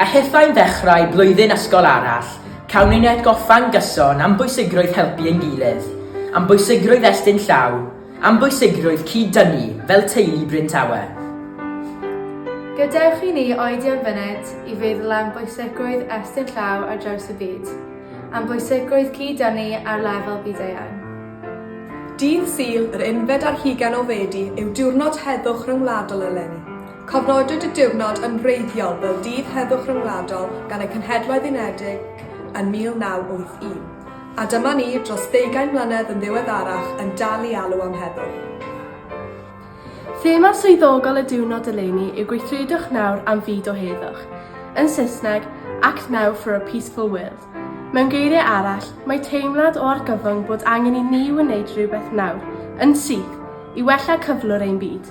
A hithau'n ddechrau blwyddyn ysgol arall, cawn ein atgoffa'n gyson am bwysigrwydd helpu ein gilydd, am bwysigrwydd estyn llaw, am bwysigrwydd cyd-dynnu fel teulu Bryn Tawe. Gadewch i ni oedi am funud i feddwl am bwysigrwydd estyn llaw ar draws y byd, am bwysigrwydd cyd-dynnu ar lefel byd-eang. Dydd Sul, yr unfed ar hugain o Fedi, yw diwrnod heddwch ryngwladol eleni. Cofnodwyd y diwrnod yn wreiddiol fel Dydd Heddwch Ryngwladol gan y Cenhedloedd Unedig yn 1981, a dyma ni, dros ddeugain mlynedd yn ddiweddarach, yn dal i alw am heddwch. Thema swyddogol y diwrnod eleni yw Gweithredwch Nawr am Fyd o Heddwch, yn Saesneg, Act Now for a Peaceful World. Mewn geiriau arall, mae teimlad o argyfwng bod angen i ni wneud rhywbeth nawr, yn syth, i wella cyflwr ein byd.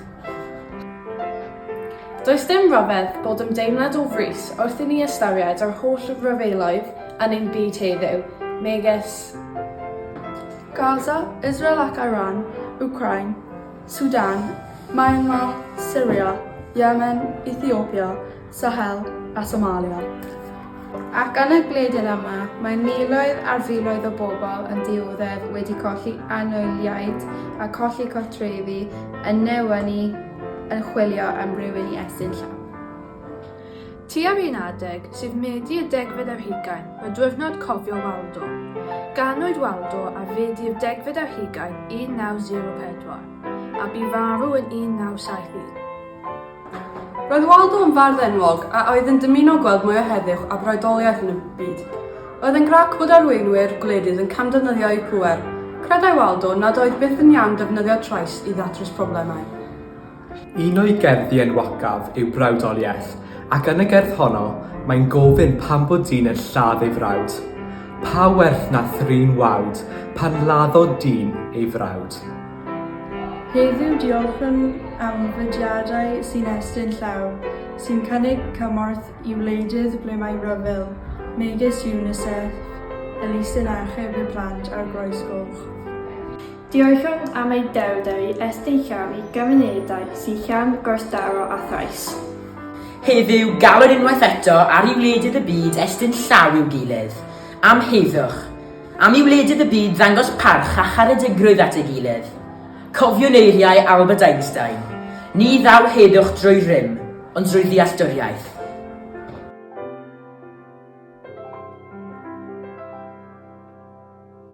Does dim rhyfedd bod ymdeimlad o frys wrth i ni ystyried yr holl ryfeloedd yn ein byd heddiw, megis Gaza, Israel ac Iran, Wcráin, Sudan, Myanmar, Syria, Yemen, Ethiopia, Sahel a Somalia. Ac yn y gwledydd yma, mae miloedd ar filoedd o bobl yn dioddef wedi colli anwyliaid a cholli cartrefi yn newynu yn chwilio am rywun i estyn llaw. Tua'r un adeg, sydd Medi y degfed ar hugain, mae Diwrnod Cofio Waldo. Ganwyd Waldo ar Fedi'r degfed ar hugain 1904, a bu farw yn 1971. Roedd Waldo yn fardd enwog a oedd yn dymuno gweld mwy o heddiw a broedoliaeth yn y byd. Roedd yn grac bod arweinwyr gwledydd yn camddefnyddio eu pŵer. Credai Waldo nad oedd byth yn iawn defnyddio trais i ddatrys problemau. Un o'i gerddi enwocaf yw Brawdoliaeth, ac yn y gerdd honno, mae'n gofyn pam bod dyn yn lladd ei frawd. Pa werth na thrin wawd pan laddodd dyn ei frawd? Heddiw diolchwn am fudiadau sy'n estyn llaw, sy'n cynnig cymorth i wleidydd ble mae rhyfel, megis UNICEF, Elusen Achub y Plant a'r Groes Goch. Diolchwn am eu dewdau estyn llaw i gymunedau sy'n llawn gwrthdaro a thrais. Heddiw galwn unwaith eto ar i wleidydd y byd estyn llaw i'w gilydd, am heddwch, Am i wledydd y byd ddangos parch a charedigrwydd at ei gilydd. Cofiwn eiriau Albert Einstein, Ni ddaw heddwch drwy rym, ond drwy ddealltwriaeth.